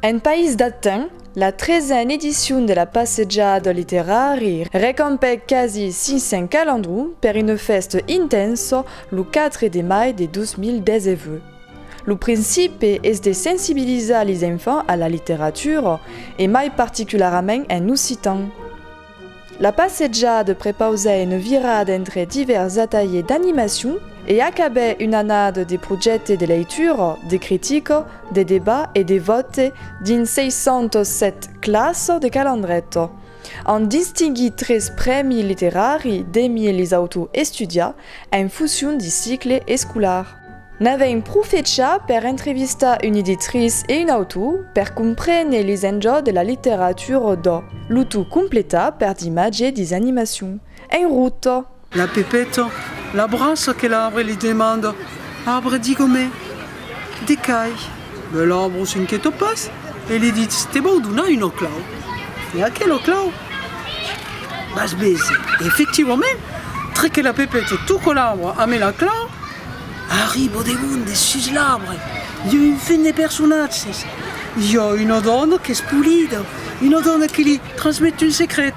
En país d'Aten, la tresen edicion de la passejada del literari recampèc quasi 500 calandrons per una fèsta intensa lo 4 de mai de 2019. Lo principi es de sensibilizar lis enfants a la literatura e mai particularament en occitan. La passejada de prepausè una virada entre divèrs atalhers d'animacion e acabè una annada de projècte de leitura, de critica, de debat e de vòte dins 607 classa de Calandreta. An distinguit tres prèmi literari demie lis autors estudiats en fusion de cicle escolar. N'avè un pro fecha per entrevistar un iditris e un autor per comprene lis enjòs de la literatura do, lo tout completat per d'imatge dis animacion. Un rotto! La Pepeta l'abraça que l'arbre li demanda, Arbre, digo-me, de qu'ai? Bèl arbre, s'inquièta pas, e li ditz, te vau donar una clau. E aquela clau, vas veser. E efectivament, treque la pepeta, toca l'arbre ame la clau, arriba demond de sus l'arbre, i a un fum de personatges, i a una dona qu'es polida, una dona que li transmet un secret,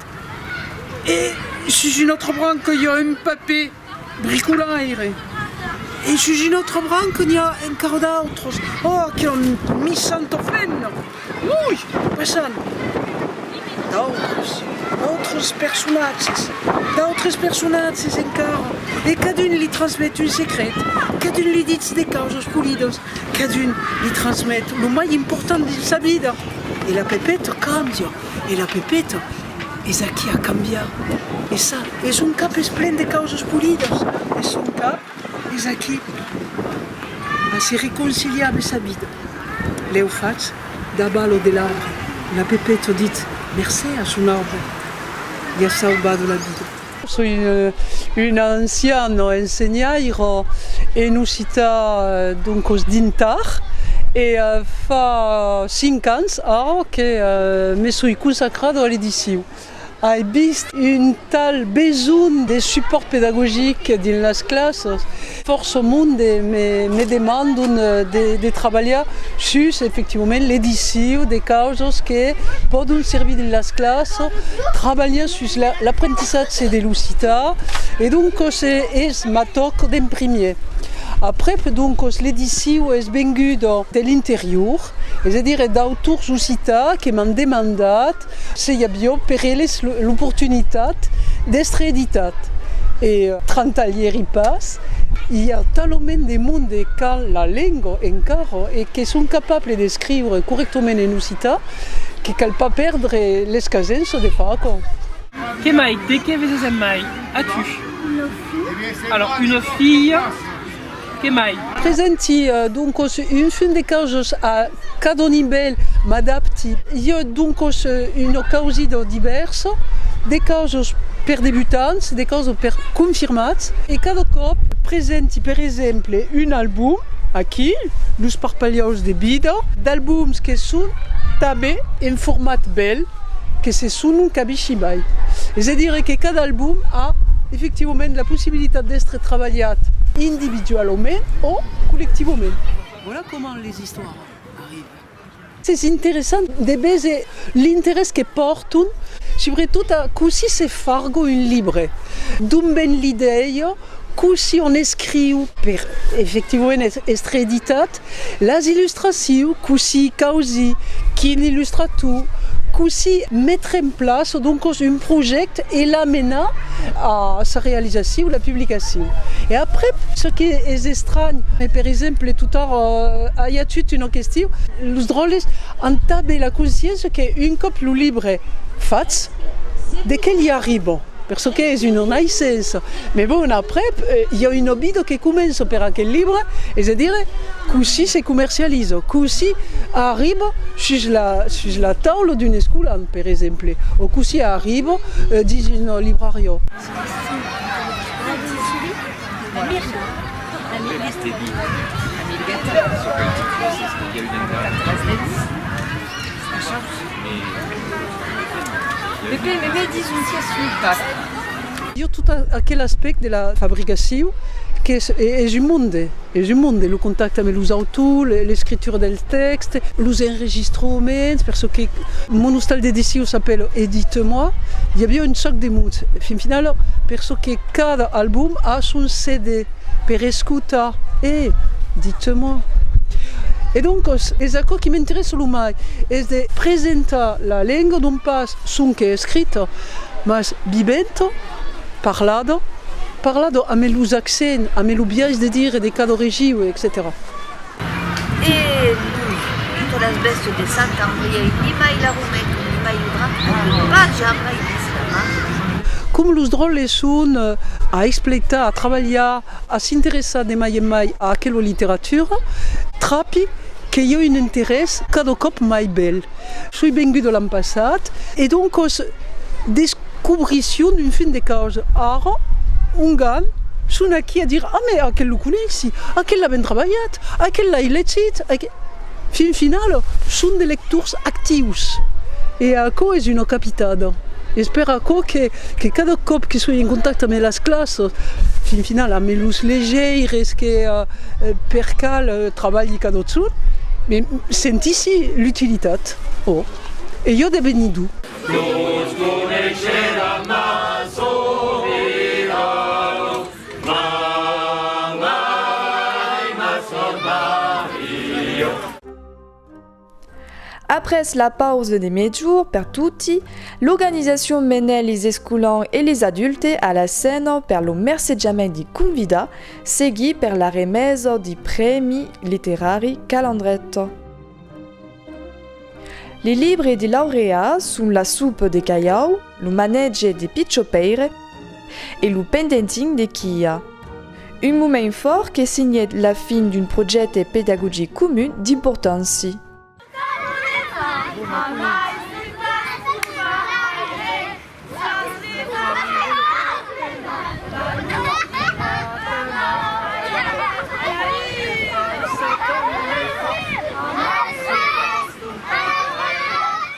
e sus una autra branca i a un papè. Bricolaire. E sus un autre branc n'i a encara d'autres. Oh, que on mi sent ofent! Ui! Passam. D'autres, d'autres personatges, d'autres personatges encara. E cadun li transmet un secret, cadun li ditz de causas polidas, cadun li transmet lo mai important dins sa vida. E la Pepeta cambia, e la Pepeta. Es aquí a cambiar, e ça es un cap es plen de causas polidas, e son cap es aquí a se reconciliar de sa vida. Lèu fatz daba lo de l'arbre, la Pepeta dit mercé a son arbre, li a saubat la vida. Soi un ancian ensenhaire en occitan donc os dintar e fa cinc ans ara que me soi consacrada a l'edicion. Ai vist un tal besonh de supòrt pedagogic dins las classas Fòrça monde me demandon de trabalhar sus efectivament l'ediciu de causas que pòdon servir dins las clasas, trabalhar sus l'aprentissatge de l'occitan e doncas es ma tòca d'en primièr. Aprèp doncas l'ediciu es venguda de l'interior, es a dire d'autors occitans que m'an demandat Se i avió per eles l'oportunitat d'èstre editat e trantalhèri pas, i a talament de monde qu'an la lenga encara e que son capables d'escriure corrèctament en occitan que cal pas pèrdre l'escasença de far aquò. Que mai, de qué veses en mai as-tu? Una filha. Alors, una filha. Que mai? Presenti, doncos, un film de causas a cada nivèl, m'adapti. I a, doncos, una causida divèrsa, de causas per debutants, de causas per confirmats, e cada còp. Presenti, per exemple, un album, aquí, Los parpalhaus de vida, d'albums que son tanben en format bèl. que se son cabishi mai, es a dire que cada album a efectivament la possibilitat d'èstre trabalhat individualament o collectivament. Voilà comment les istoires arrivent. Es interessant de véser l'interès que pòrton, subretot a cossí se fargo un libre, d'ont ven l'idèia, cossí on escriu per efectivament èstre editat, Las illustraciu, cossí causi, quin illustrator, cossí metre en plaça doncos un projècte e l'amenar a sa realizaciu, la publicaciu. E aprèp, çò que es estranh, e per exemple totòr i a tot una question, los dròlles an tanben la consciéncia que un còp lo libre fach, de qué li arriba? Per çò qu'es una naissença. Mès bon, aprèp, i a un obido que comença per aquel libre, es a dire, cossí se comercializa, cossí arriba sus la, sus la taula d'un escolan, per exemple, o cossí arriba dins una librariá. Io tot aquel aspèct de la fabricacion qu'es un monde, es un monde, lo contacte ame los autors, l'escritura del tèxte, los enregistroments, per çò que mon ostal d'edicion s'apèla Edite-moi, i aviá un sòc de mots. Fin finala, per çò que cada album a son CD. Per escutar, e, ditz-moi. E doncas, es aquò qui m'interessa lo mai, es de presentar la lenga non pas sonque escrita, mas viventa, parlada, parlada amé los accents, amé lo biais de dire de cada regiu, etcetèra. E los que las bèstes de sang qu'an brièi nimai la rometon, nimai lo drap, n'an pas jamai vist la mar. Com los dròlles son a expletar, a trabalhar, a s'interessar de mai en mai a aquela literatura, trapi que i a un interès cada còp mai bèl. Soi venguda l'an passat e doncas des. Cobrissión d'un fin de causa. Ara, ongan son aquí a dire, ah mais aquel lo coneissi, aquel l'a ben trabalhat, aquel l'ai legit, aquel. Fin final, son de lectors actius e aquò es una capitada. Es per aquò que, que cada còp que soi en contacte amé las classas, fin final amé los legeires que per cal trabalhi cadotson, me sentissi l'utilitat, oh, e jo de venir d'u. Tot coneisheram ma Sovirano, ma Mai, ma Sòr Maria. Après la pausa de mejorn per toti, l'organizacion menèt les escolans e les adultes a la scèna per lo mercejament de convidar, seguit per la remesa de prèmi literari Calandret. Li libre de Laureà son la soupe de caiau, lo manètge de Pichò Pèire e lo pendentin de Quia. Un moment fòrt que signèt la fin d'un projècte pedagogic comun d'importància.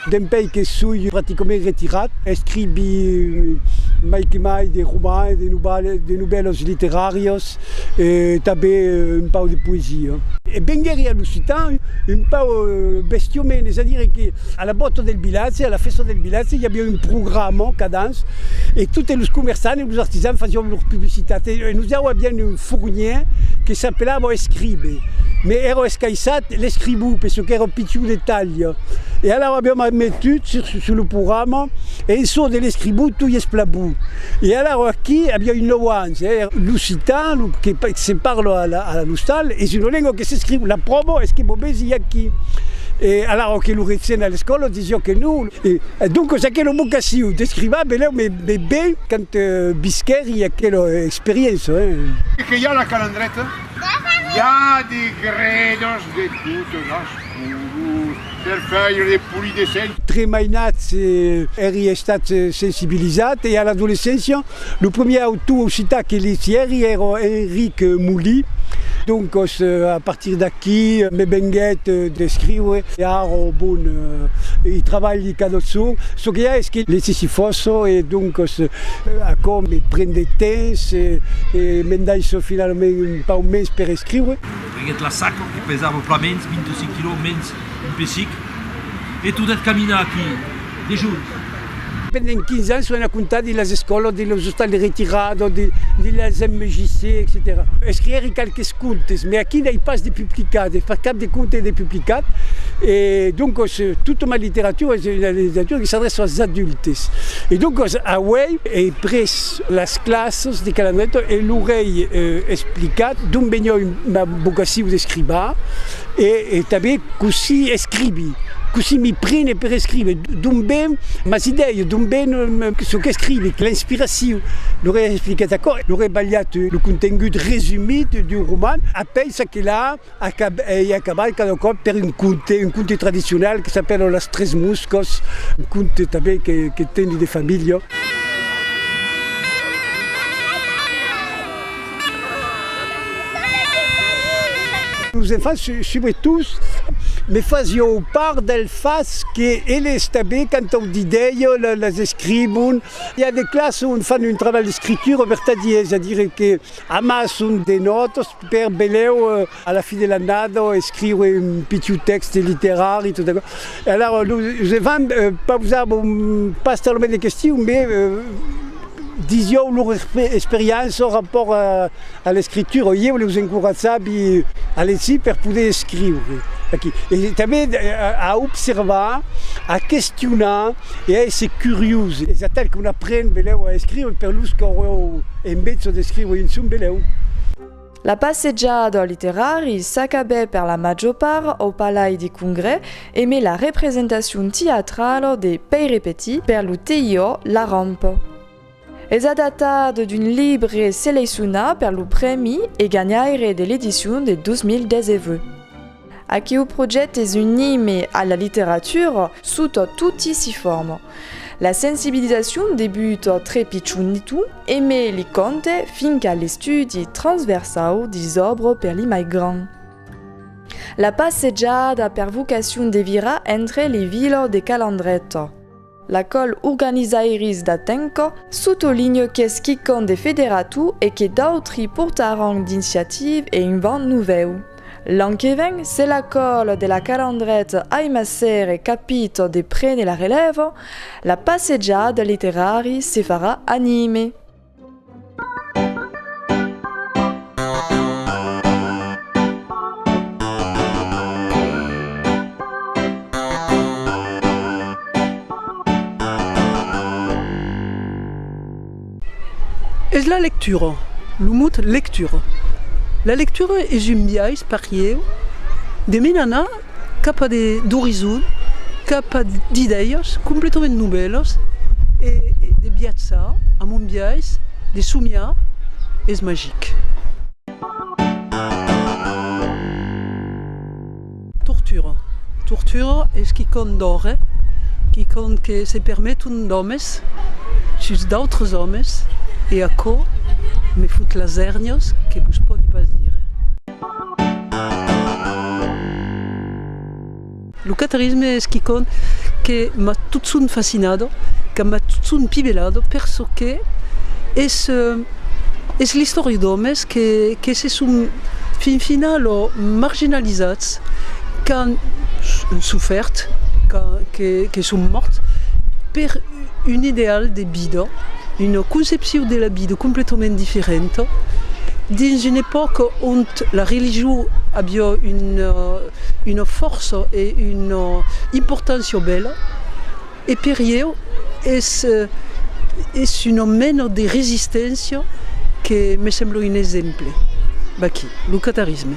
Dempèi que soi practicament retirat, escrivi mai que mai de romans, de novèlas literàrias e tanben un pauc de poesia. E venguèri a l'occitan un pauc bestiomene, es a dire que. A la bòta del vilatge, a la fèsta del vilatge, i aviá un programa cada ans e totes los comerçants e los artisans fasián lor publicitat e nosau avián un fornièr que s'apelava Escribe, me èra escaissat l'escribú per çò qu'èra pichon de talha e alara aviam metut sus lo programa en çò de l'escribú tu i esplabú e alara aquí aviá un nòu ans e l'occitan, lo que se parla a l'ostal, es una lenga que s'escriu, la pròva es que vos vesi aquí. E alara o que lo rètzen a l'escòla disió que non. E doncas aquela vocacion descriva belèu me me ben quand visquèri aquela experiéncia. Que i a la calandreta? I a de gredas de totes las colors per faire de polis dessins. Tre mainat èri estat sensibilizat e a l'adolescéncia Lo premier autor occitan que li sièri èra Enric Molí, doncas a partir d'aquí me venguèt d'escriure e ara bon i trabalhi cada jorn, çò que i a es que li sissi fòrça e doncas aquò me pren de temps e m'endaissa finalament un pauc mens per escriure. Venguèt la saca que pesava plan mens, 25 quilòs mens un pesic e tornèt caminar aquí. Dijunt. Pendent 15 ans son a comptar de las escòlas, de los ostals de retirada, de las MJC, etcetèra. Escrièri qualques contes, mai aquí n'ai pas de publicat, de far cap de conte de publicat, e doncas tota ma literatura es una literatura que s'adrèça als adultes. E doncas auèi ei pres las classas de Calandreta e lor ei explicat d'ont veniá ma vocacion d'escrivain, E tanben cossí escrivi, cossí mi prene per escriver, d'on ven mas idèias, d'on ven çò qu'escrivi, l'inspiracion. L'auré explicat aquò, l'auré balhat lo contengut resumit d'un roman, apèi ça que la ei acabat cada còp per un conte, un conte tradicional que s'apèla Las tres moscas, un conte tanben que teni de familha. Los enfants subretot me fasió part del fach que ele està bé quand au didèi les escribon. I a de clas on fan un trabalh d'escritura vertadièr, es a dire que amason de nòtas per belèu. A la fin de l'annada escriure un pitiu tèxte literari tot aquò. E alara nosé vam pausar bon pas talament de questions mes disieu lor experiença rapòrt a l'escritura. Ieu leus encoratjavi a legir per poder escriure aquí e tanben a observar, a questionar e a èsser curiós. Es atal qu'on apren, velèu, a escriure per los qu'auèu en besonh d'escriure un son, velèu. La passejada literari s'acabè per la major part au Palai de Congrès e mai la representacion teatrala de Pèire Petit per lo TIO La Rampa. Es adaptat d'un libre seleisonat per lo prèmi e ganhaire de l'edicion de 2019. Aquiu projet es un hime a la literatura sota toti si forma. La sensibilizacion debuta tre pichonitu e me li conte fin qu'a l'estudi transversau dis òbra per li mai gran. La passejada per vocacion devirà entre li vilas de Calandreta. La col organizairis d'Atenco sotolinhe qu'es quicòm de federatu e que d'autri portaràn d'inciative e un vent novèu. L'an que ven, se la col de la Calandret ai màser e capit de prene la relèva, la passejada literari se farà anime. Es la lectura, lo mot lectura. La lectura es un biais, parieu, de menanar Capa d'orizon, capa d'idèias completament novèlas e de viatjar amb un biais de somiar es magic. Tortura, tortura es quicòm d'òre, quicòm que se permeton d'òmes sus d'autres òmes e aquò me fot las èrnias que vos pòdi pas dire. Lo catarisme es quicòm que m'a totson fascinado, que m'a totson pivelado per çò que es, es l'istòria d'òmes que que se son fin finalo marginalizats, qu'an sofèrt, qu'an que que son mòrts per un ideal de. Vida, una concepcion de la vida completament diferenta, dins una epòca ont la religion aviá una fòrça e una importància bèla, e per ieu es una mena de resisténcia que me sembla un exemple, vaquí, lo catarisme.